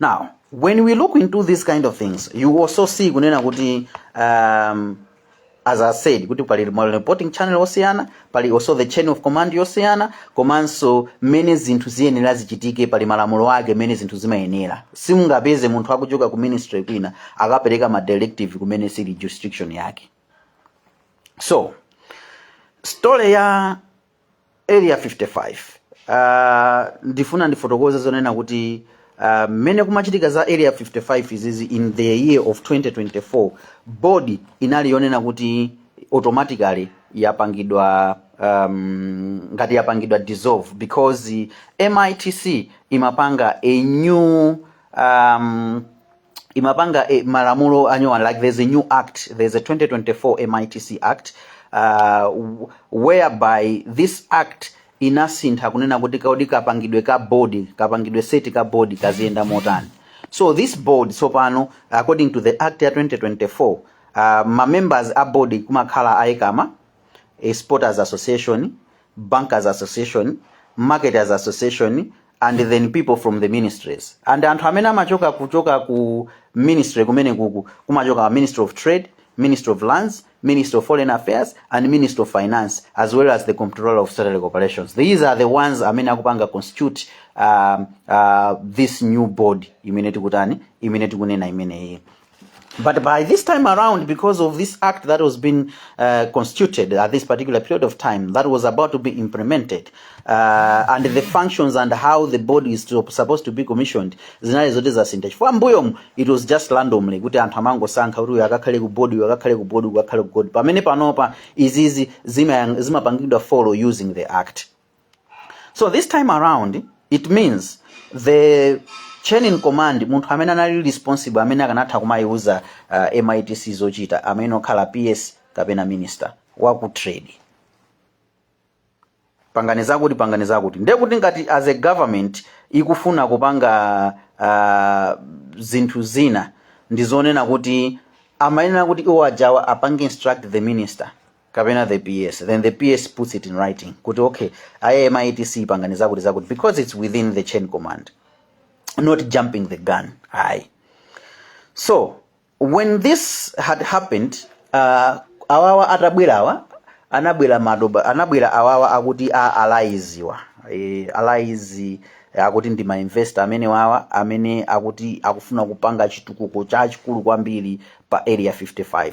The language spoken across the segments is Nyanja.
now when we look into these kind of things you also see kunena kuti um, as i said kuti pali ma reporting channel osiyana pali also the chain of command yosiyana komanso mmene zinthu ziyenera zichitike pali malamulo ake mmene zinthu zimayenera simungapeze munthu akuchoka ku ministry kwina akapereka ma directive kumene sili jurisdiction yake so story ya area 55 uh, ndifuna ndifotokoze zonena kuti uh, mmene kumachitika za area 55 izizi in the year of 2024 board inali yonena kuti automatically yapangidwa um, ngati yapangidwa dissolve because mitc imapanga a new um, imapanga eh, malamulo anyowani like there's a new act there's a 2024 mitc act uh, w- whereby this act inasintha kunena kuti kaudi kapangidwe ka board kapangidwe set ka board kaziyenda motani so this board tsopano according to the act ya 2024 uh, ma members a board kumakhala a ECAMA exporters association bankers association marketers association and then people from the ministries and anthu amene amachoka kuchoka ku ministry kumene kuku kumachoka ministry of trade ministry of lands ministry of foreign affairs and ministry of finance as well as the comptroller of statutory corporations these are the ones amene akupanga constitute um, uh, this new board imene tikutani imene tikunena imeneyi But by this time around, because of this act that was being uh, constituted at this particular period of time, that was about to be implemented, uh, and the functions and how the board is to, supposed to be commissioned, zinali zoti zasintha chifukwa mbuyomu it was just randomly kuti anthu amangosankha kuti uyu akakhale ku board uyu akakhale ku board uyu akakhale ku board pamene panopa izizi zima- zimapangidwa follow using the act so this time around it means the chain in command munthu amene anali responsible amene akanatha kumayiuza uh, mitc zochita amene akhala ps kapena minister waku trade pangani zakuti pangani zakuti ndiye kuti ngati as a government ikufuna kupanga uh, zinthu zina ndizonena kuti amayenera kuti iwo ajawa apange instruct the minister kapena the PS then the PS puts it in writing kuti okay aye MITC pangani zakuti zakuti because it's within the chain command not jumping the gun ayi so when this had happened uh, awawa atabwerawa anabwera madoba anabwera awawa akuti a alaiziwa e, alaizi akuti ndi mainvestor amene wawa amene akuti akufuna kupanga chitukuko chachikulu kwambiri pa area 55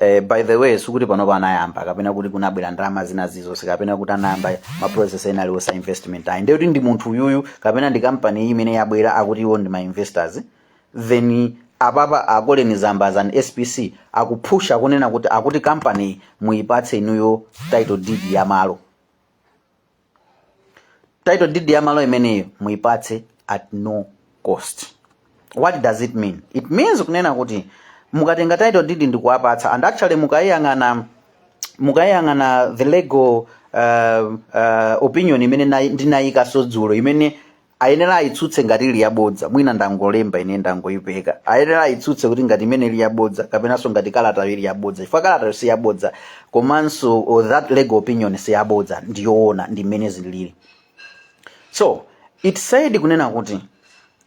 Eh, by the way sikuti panopa anayamba kapena kuti kunabwera ndalama zina zizonse kapena kuti anayamba ma process ena aliwonse a investment ayi ndekuti ndi munthu uyuyu kapena ndi kampani iyi imene yabwera akuti iwo ndi ma investors then apapa a Colleen Zamba as an SPC akuphusha kunena kuti akuti kampani iyi muyipatse inuyo title deed ya malo title deed ya malo imeneyo muipatse at no cost what does it mean it means kunena kuti mukatenga title deed ndikuwapatsa and actually mukayiyang'ana mukayiyang'ana the legal uh, uh, opinion imene nayi- ndinayikaso dzulo imene ayenera ayitsutse ngati ili yabodza mwina ndangolemba ine ndangoyipeka ayenera ayitsutse kuti ngati imene ili yabodza kapenanso ngati kalatayo ili yabodza chifukwa kalatayo si yabodza komanso oh, that legal opinion si yabodza ndi yoona ndi mmene zilili so it says kunena kuti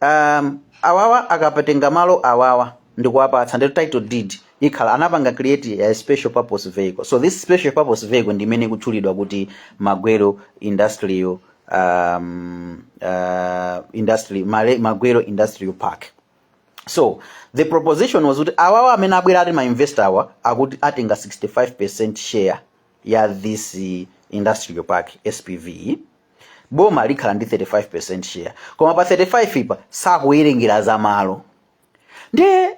um, awawa akatenga malo awawa ndikuwapatsa ndi title deed ikhala anapanga create a special purpose vehicle so this special purpose vehicle ndi imene ikutchulidwa kuti magwero industrial um, uh, industry Male- magwero industrial park so the proposition was kuti awawa amene abwera ati mainvestor awa akuti atenga 65 percent share ya this eh, industrial park spv boma likhala ndi 35 percent share koma pa 35 apa sakuwerengera za malo ndiye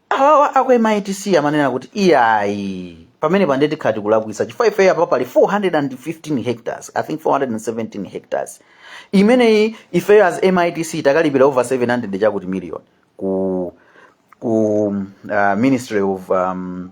awawa aku mitc amanena kuti iyayi pamenepa nde tikhala tikulakwisa chifukwa ifeyo apa pali 415 hectares i think 417 hectares imeneyi ifeyo as mitc takalipira over 700 chakuti million ku ku uh, ministry of um,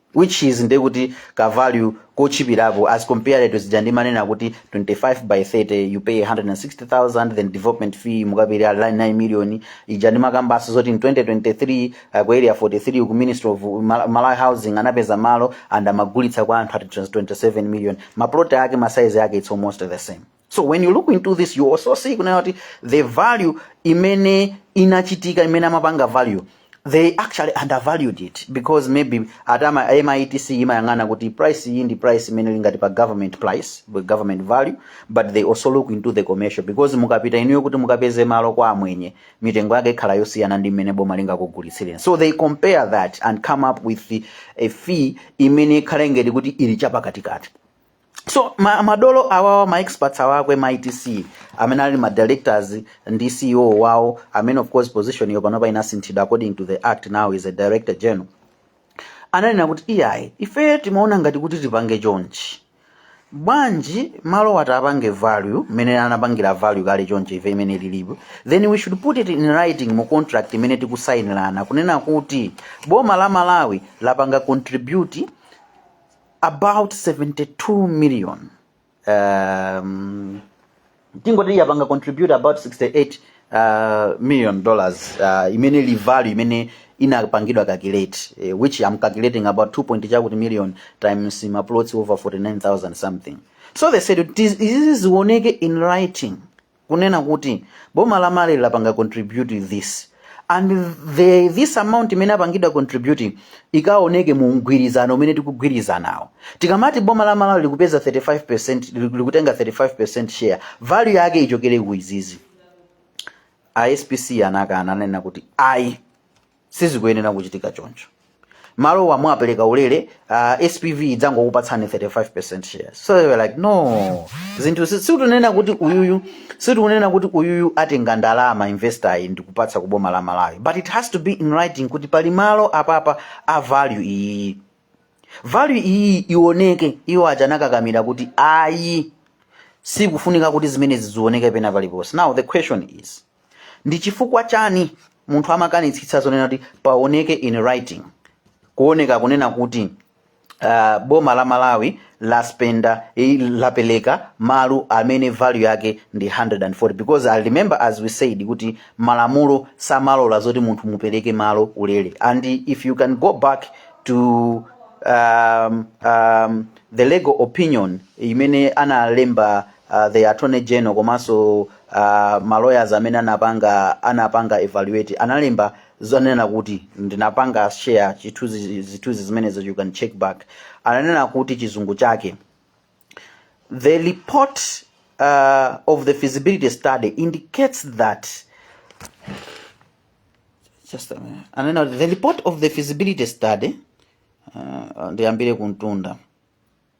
which is ndiye kuti ka value kotchipirako as compared to zija ndimanena kuti 25 by 30 you pay 160000 then development fee mukapereke 9 million ija ndimakambaso zoti in 2023 uh, ku area 43 ku ministry of Mal- malawi housing anapeza malo and amagulitsa kwa anthu at 27 million maplot ake masaizi ake it's almost the same so when you look into this you also see kunena kuti the value imene inachitika imene amapanga value they actually undervalued it because maybe at a mitc imayang'ana kuti price iyi ndi price imene ili ngati pa government price pa government value but they also look into the commercial because mukapita inuyo kuti mukapeze malo kwa amwenye mitengo yake ikhala yosiyana ndi mmene boma lingakugulitsireni so they compare that and come up with a fee imene ikhala ngati kuti ili chapakatikati so ma, madolo awawa ma experts awa aku MITC amene ali ma directors ndi ceo wawo amene of course position iyo panopa inasinthidwa according to the act now is a director general ananena kuti iyayi ife timaona ngati kuti tipange chonchi bwanji malo wati apange value mmene anapangira value kale chonchi iyo imene ilipo then we should put it in writing mu contract imene tikusainirana kunena kuti boma la malawi lapanga contribute about 72 million um, tingoti yapanga contribute about 68 uh, million dollars uh, imene ili value imene inapangidwa calculate eh, which I'm calculating about 2 point chakuti million times ma plots over 49000 something so they said "Tis- izizi zioneke in writing kunena kuti boma la malawi lapanga contribute this and this amount imene apangidwa contribute ikaoneke mu mgwirizano umene tikugwirizanawo tikamati boma la malawi likupeza 35 likutenga 35 percent share value yake ichokere ku izizi a spc anakana ananena kuti ayi sizikuyenera kuchitika choncho malowa mwapereka ulere uh, spv idzangokupatsani 35 percent shares so they were like no zinthu si- sitikunena kuti uyuyu sitikunena kuti uyuyu atenga ndalama investor ayi ndikupatsa kuboma la malawi but it has to be in writing kuti pali malo apapa a value iyi value iyi ioneke iwo aja anakakamira kuti ayi sikufunika kuti zimenezi zioneke pena paliponse now the question is ndi chifukwa chani munthu amakanitsitsa zonena kuti paoneke in writing kuoneka kunena kuti uh, boma la malawi laspenda eh, lapeleka malo amene value yake ndi 140 because i remember as we said kuti malamulo samalola zoti munthu mupeleke malo ulele and if you can go back to um, um, the legal opinion imene analemba uh, the attorney general komanso uh, ma lawyers amene anapanga anapanga evaluate analemba zonena kuti ndinapanga share zithunzi zithunzi zimenezo you can check back ananena kuti chizungu chake the report uh, of the feasibility study indicates that just a minute. ananena kuti the report of the feasibility study uh, ndiyambire kumtunda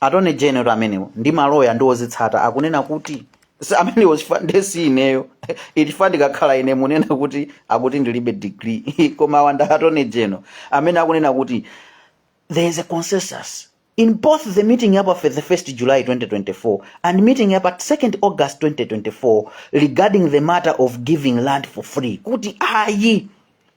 attorney general amenewo ndi maloya ndi odzitsata akunena kuti si amenewo chifukwa nde si ineyo chifukwa ndikakhala ine munena kuti akuti ndilibe degree koma awa ndi attorney general amene akunena kuti there is a consensus in both the meeting ya pa 31st July 2024 and meeting ya pa 2nd August 2024 regarding the matter of giving land for free kuti ayi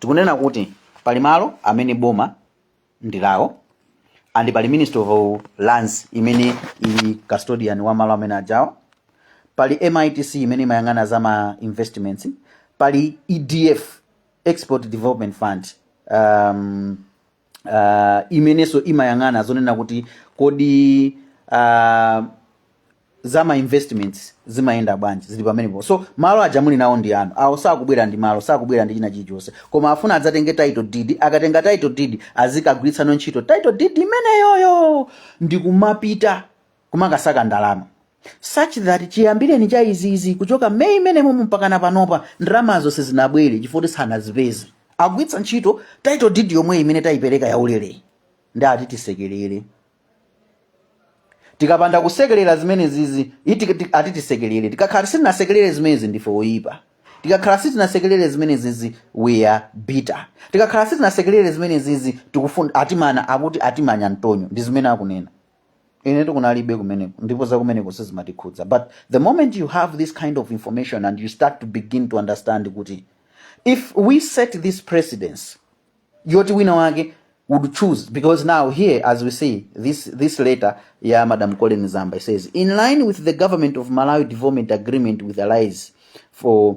Tikunena kuti pali malo amene boma ndi lawo and pali Ministry of Lands imene ili custodian wa malo amene ajawa. Pali MITC imene imayang'ana za ma investments, pali EDF Export Development Fund um, uh, imenenso imayang'ana zonena kuti kodi uh, za ma investments zimayenda bwanji zili pamenepo so malo aja muli nawo ndi anu awa sakubwera ndi malo sakubwera ndi china chilichonse koma afuna adzatenge title deed akatenga title deed azikagwiritsano ntchito title deed imeneyoyo ndikumapita kumakasaka ndalama such that chiyambireni cha izizi kuchoka May imenemo mpakana panopa ndalamazo sizinabwere chifukwa choti sanazipeze agwiritsa ntchito title deed yomwe imene taipereka yaulereyi ndi ati tisekerere tikapanda kusekerera zimene zizi iti ti- ati tisekerere tikakhala sitinasekerere zimenezi ndife oyipa tikakhala sitinasekerere zimene zizi we are bitter tikakhala sitinasekerere zimene zizi tikufuna atimana akuti atimana mtonyo ndi zimene akunena ine tikunalibe kumeneko ndipo za kumeneko sizimatikhudza but the moment you have this kind of information and you start to begin to understand kuti if we set this precedence yoti wina wake would choose because now here as we see this this letter ya madam colin zamba it says in line with the government of malawi development agreement with allies for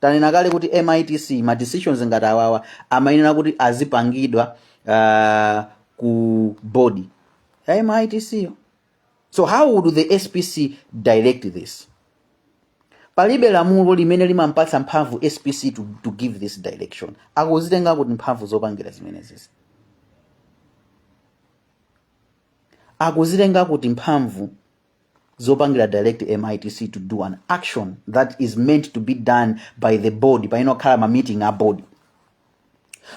Tanena kale kuti MITC ma decisions ngati awawa amayenera kuti azipangidwa uh, ku board ya MITC yo. So how would the SPC direct this? Palibe lamulo limene limampatsa mphamvu SPC to, to give this direction. Akuzitenga kuti mphamvu zopangira zimene zizi. Akuzitenga kuti mphamvu zopangira direct mitc to do an action that is meant to be done by the board payenera kukhala ma meeting a board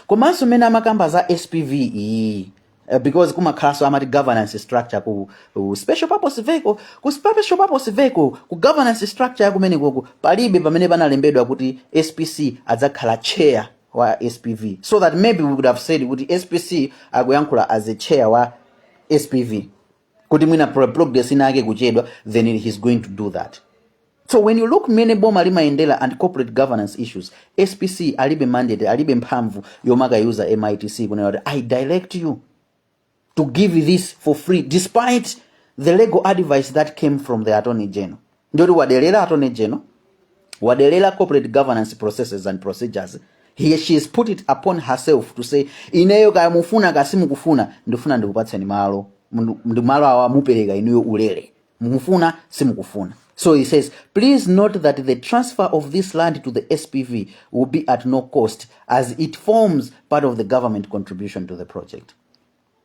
komanso mmene amakamba za spv iyi eh, because kumakhalanso amati governance structure ku, ku special purpose vehicle ku special purpose vehicle ku governance structure yakumenekoko palibe pamene panalembedwa kuti spc adzakhala chair wa spv so that maybe we could have said kuti spc akuyankhula as a chair wa spv kuti mwina pro- progress ina yake kuchedwa then he's going to do that so when you look mmene boma limayendera and corporate governance issues spc alibe mandate alibe mphamvu yomakayuza mitc kunena kuti i direct you to give this for free despite the legal advice that came from the attorney general ndiyoti waderera attorney general waderera corporate governance processes and procedures he she has put it upon herself to say ineyo kaya mufuna kaya simukufuna ndifuna ndikupatseni malo Mundu- ndi malo awa mupereka inuyo ulere mufuna simukufuna so he says please note that the transfer of this land to the spv will be at no cost as it forms part of the government contribution to the project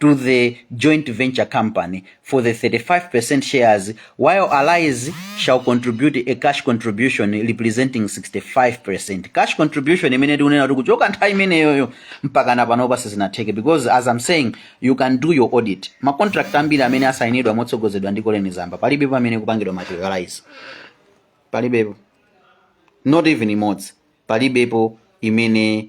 to the joint venture company for the 35% shares, while allies shall contribute a cash contribution representing 65%. Cash contribution imene tikunena kuti kuchoka nthawi imeneyoyo mpaka na panopa sizinatheke because as I'm saying you can do your audit. Ma contract ambiri amene asayinidwa motsogozedwa ndi Colleen Zamba palibepo amene akupangidwa materialize. Palibepo. Not even imodzi. Palibepo imene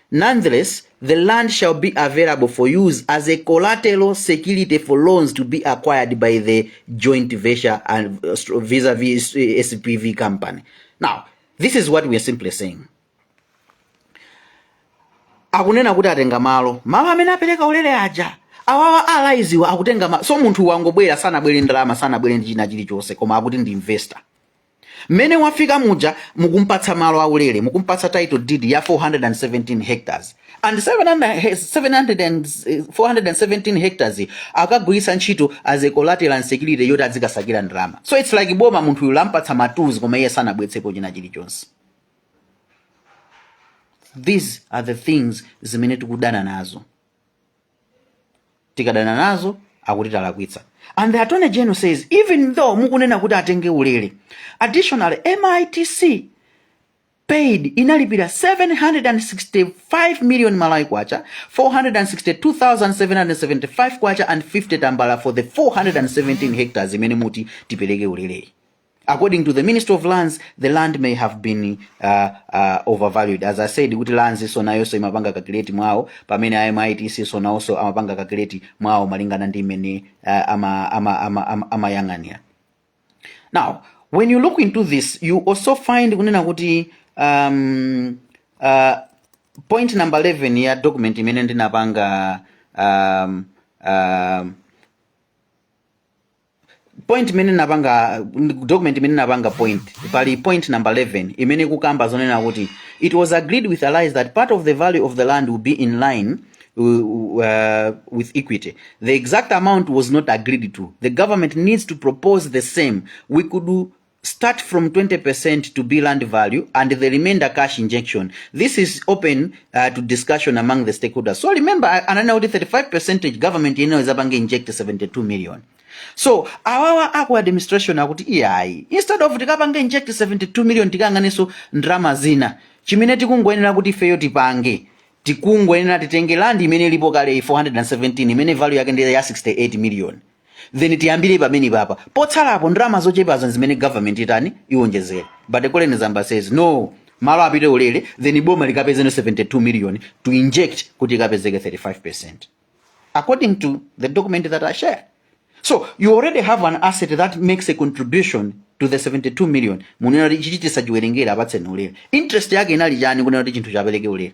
Nonetheless, the land shall be available for use as a collateral security for loans to be acquired by the joint venture and uh, stro- vis-a-vis uh, SPV company. Now, this is what we are simply saying. Akunena kuti atenga malo, malo amene apereka ulere aja. Awawa alaiziwa akutenga malo. So munthu wangobwera sanabwere ndi ndalama, sanabwere ndi china chilichonse koma akuti ndi investor. Mmene wafika muja mukumpatsa malo aulere, mukumpatsa title deed ya 417 hectares and 700 he- 700 and, eh, 417 hectares yi akagwiritse ntchito as collateral and security yoti adzikasakira ndalama. So it's like boma munthu uyu lampatsa ma tools koma iye sanabwetsepo china chilichonse. These are the things zimene tikudana nazo. tikadana nazo akuti talakwitsa and the attorney general says even though mukunena kuti atenge ulele additionally mitc paid inalipira 765 million malawi kwacha 462775 kwacha and 50 tambala for the 417 hectares imene muti tipereke uleleyi according to the ministry of lands the land may have been uh, uh, overvalued as i said kuti lands nso nayonso imapanga kakileti mwawo pamene amitc nso nawonso amapanga kakileti mwawo malingana ndi mmene uh, amayang'anira ama, ama, ama, amayang'anira. Now, when you look into this, you also find kunena kuti um, uh, point number 11 ya document imene ndinapanga um, um, point imene napanga document imene napanga point pali point number 11 imene kukamba zonena kuti it was agreed with allies that part of the value of the land will be in line uh, uh, with equity the exact amount was not agreed to the government needs to propose the same we could do start from 20% to be land value and the remainder cash injection. This is open uh, to discussion among the stakeholders. So remember, I- ananena kuti 35 percent ya government yeniyo izapange inject 72 million. So awawa aku administration akuti iyayi instead of tikapange inject 72 million tikafunenso ndalama zina chimene tikungoyenera kuti ifeyo tipange tikungoyenera titenge land imene ilipo kale 417 imene value yake ndi ya 68 million then tiyambire pamene papa potsalapo ndalama zochepazo nzimene government itani iwonjezere but a colleen zamba says no malo apite ulere then boma likapezeno 72 million to inject kuti ikapezeke 35 percent according to the document that i shared so you already have an asset that makes a contribution to the 72 million mukunena kuti ichichi tisachiwerengere apatseni ulere interest yake inali chani kunena kuti chinthu chiperekedwe ulere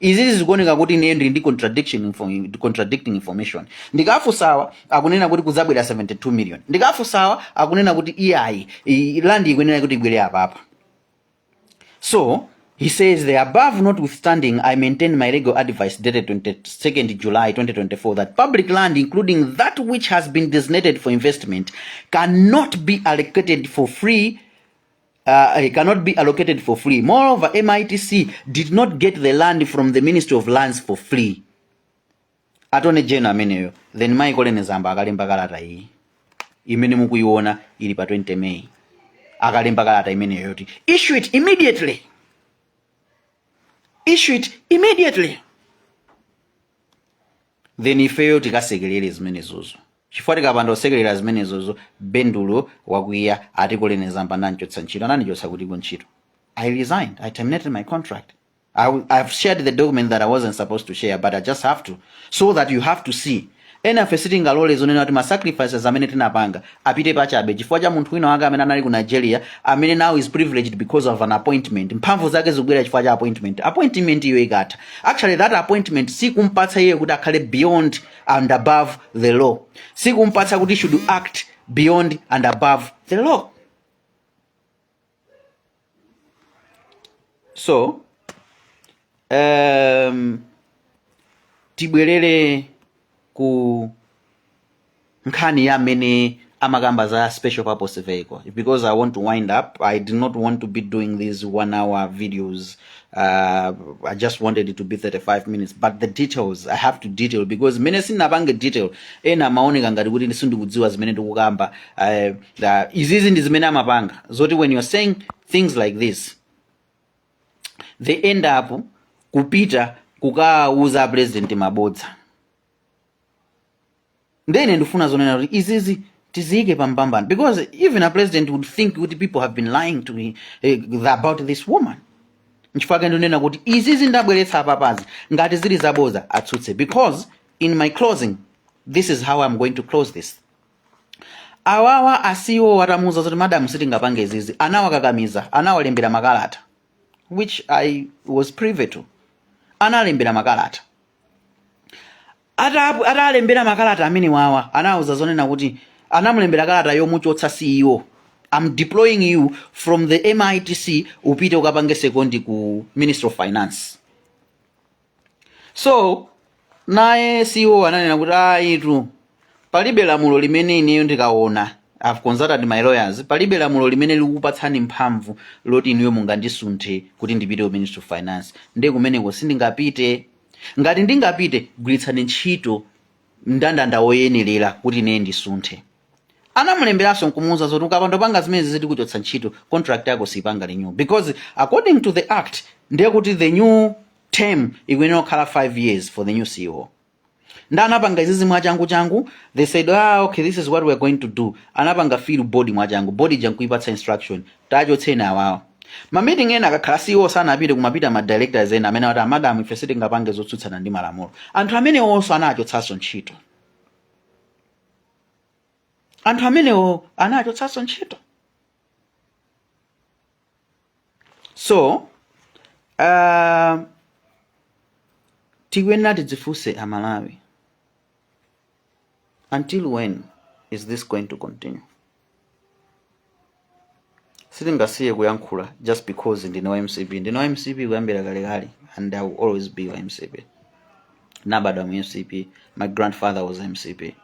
izizi zikuoneka kuti ineyo ndili ndi contradiction info, contradicting information ndikafunsa awa akunena kuti kuzabwera 72 million ndikafunsa awa akunena kuti iyayi i- land ikuyenera kuti ibwere apapa so he says the above notwithstanding i maintain my legal advice dated 22nd july 2024 that public land including that which has been designated for investment cannot be allocated for free uh, it cannot be allocated for free. Moreover, MITC did not get the land from the Ministry of Lands for free. Attorney General ameneyo then mai colleen zamba akalemba kalata iyi imene mukuiona ili pa 20 May akalemba kalata imeneyo yoti issue it immediately issue it immediately then ifeyo tikasekelere zimenezozo chifukwa tikapanda kusekelera zimenezozo bendulo wakwiya ati Colleen Zamba anandichotsa ntchito anandichotsa kuti ku ntchito i resigned i terminated my contract I, w- I've shared the document that I wasn't supposed to share, but I just have to, so that you have to see. Enafe sitingalole zonena kuti ma sacrifices amene tinapanga apite pachabe chifukwa cha munthu wina wake amene anali ku nigeria amene now is privileged because of an appointment mphamvu zake zikubwera chifukwa cha appointment appointment iyo ikatha actually that appointment sikumpatsa iye kuti akhale beyond and above the law sikumpatsa kuti he should act beyond and above the law so um, tibwerere ku nkhani ya amene amakamba za special purpose vehicle because i want to wind up i did not want to be doing these one hour videos Uh, I just wanted it to be 35 minutes, but the details I have to detail because mmene sindinapange detail ena amaoneka ngati kuti ndi- sindikudziwa zimene ndikukamba uh, the- izizi ndi zimene amapanga zoti when you're saying things like this they end up kupita kukawauza apresident mabodza nde ine ndifuna zonena kuti izizi tiziyike pa mbalambanda because even a president would think kuti people have been lying to me, eh, about this woman nchifukwa chake ndinena kuti izizi ndabweretsa apapazi ngati zili zaboza atsutse because in my closing this is how i'm going to close this awawa a CEO atamuuza zoti madamu sitingapange izizi anawakakamiza anawalembera makalata which i was privy to analembera makalata Atap atawalembera makalata amenewawa anawauza zonena kuti anamulembera kalata yomuchotsa CEO I'm deploying you from the MITC upite ukapange sekondi ku Ministry of Finance. So naye CEO ananena kuti ayi tu palibe lamulo limene ineyo ndikaona I've consulted my lawyers palibe lamulo limene likukupatsani mphamvu loti inuyo mungandisunthe kuti ndipite ku Ministry of Finance. Nde kumeneko sindingapite. Ngati ndingapite, gwiritsani ntchito mndandanda woyenerera kuti ineyo ndisunthe. Anamulemberanso nkumuuza zoti ukapanda kupanga zimenezizi tikuchotsa ntchito, contract yako siipanga renew because according to the act ndi kuti the new term ikuyenera kukhala 5 years for the new CEO. Nde anapanga izizi mwachangu changu, they said ah okay this is what we are going to do. Anapanga fill board mwachangu, board ija nkuipatsa instruction tachotseni awawa ma meeting ena akakhala CEO sanapite kumapita ma directors ena amene ati madam ife sitingapange zotsutsana ndi malamulo anthu amenewonso anawachotsanso ntchito anthu amenewo anawachotsanso ntchito so uh, tikuyenera tidzifunse amalawi until when is this going to continue sitingasiye kuyankhula just because ndine wa mcp ndine wa mcp kuyambira kalekale and i will always be wa mcp nabadwa mu mcp my grandfather was mcp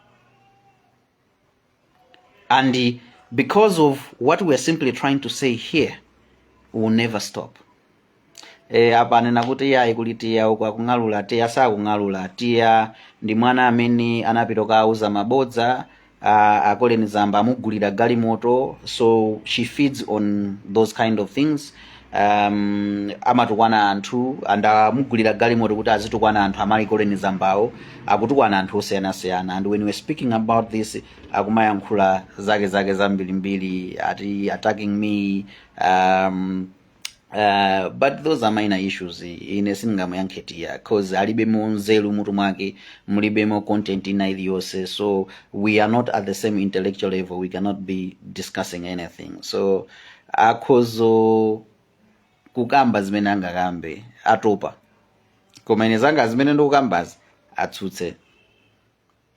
and uh, because of what we are simply trying to say here we will never stop e, apa anena kuti tiya ayi kuli tiya uku akung'alula tiya sakung'alula tiya ndi mwana amene anapita kukauza mabodza a- a Colleen Zamba amugulira galimoto so she feeds on those kind of things um, amatukwana anthu anamugulira galimoto kuti azitukwana anthu amayi Colleen Zambawo akutukwana anthu osiyanasiyana and when we're speaking about this akumayankhula zake zake zambirimbiri ati attacking me um, Uh, but those are minor issues ine sindingamuyankhe tiya cause alibemo nzeru mutu mwake mulibemo content ina iliyonse so we are not at the same intellectual level we cannot be discussing anything so akhozo kukamba zimene angakambe atopa koma ine zanga zimene ndikukambazi atsutse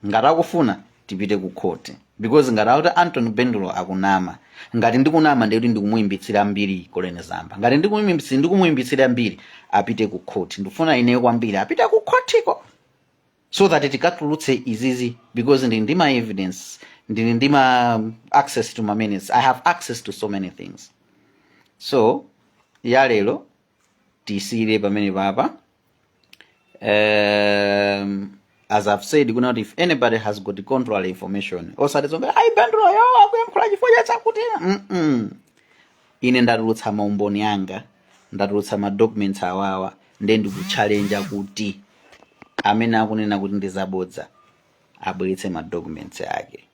ngati akufuna tipite ku khoti because ngati akuti Anthony Bendulo akunama ngati ndikunama nde kuti ndikumuyipitsira mbiri Colleen Zamba ngati ndikumuyipitsira mbiri apite ku khoti ndikufuna ineyo kwambiri apite ku khotiko so that tikatulutse izizi because ndili ndi ma evidence ndili ndi ma access to ma minutes i have access to so many things so ya lero tiyisiyire pamenepapa um, as i've said kunena kuti if anybody has got contrary information osati zongonena ayi Benduloyo akuyankhula chifukwa cha chakuti mm -mm. ine ndatulutsa maumboni anga ndatulutsa ma documents awawa nde ndikuchalenja kuti amene akunena kuti ndi zabodza abweretse ma documents ake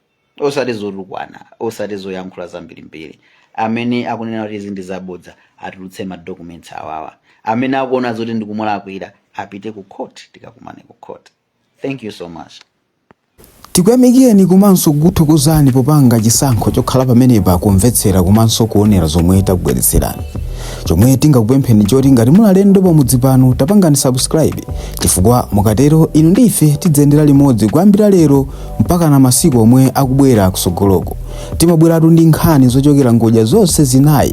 osati zotukwana osati zoyankhula zambirimbiri amene akunena kuti izi ndi zabodza atulutse ma documents awawa amene akuona zoti ndikumulakwira apite ku court tikakumane ku court Thank you so much. Tikuyamikireni komanso kukuthokozani popanga chisankho chokhala pamenepa kumvetsera komanso kuonera zomwe takubweretserani. Chomwe tingakupempheni choti ngati muli alendo pamudzi pano tapangani subscribe chifukwa mukatero inu ndi ife tidziyendera limodzi kuyambira lero mpakana masiku omwe akubwera kusogoloko. Timabweratu ndi nkhani zochokera ngodya zonse zinayi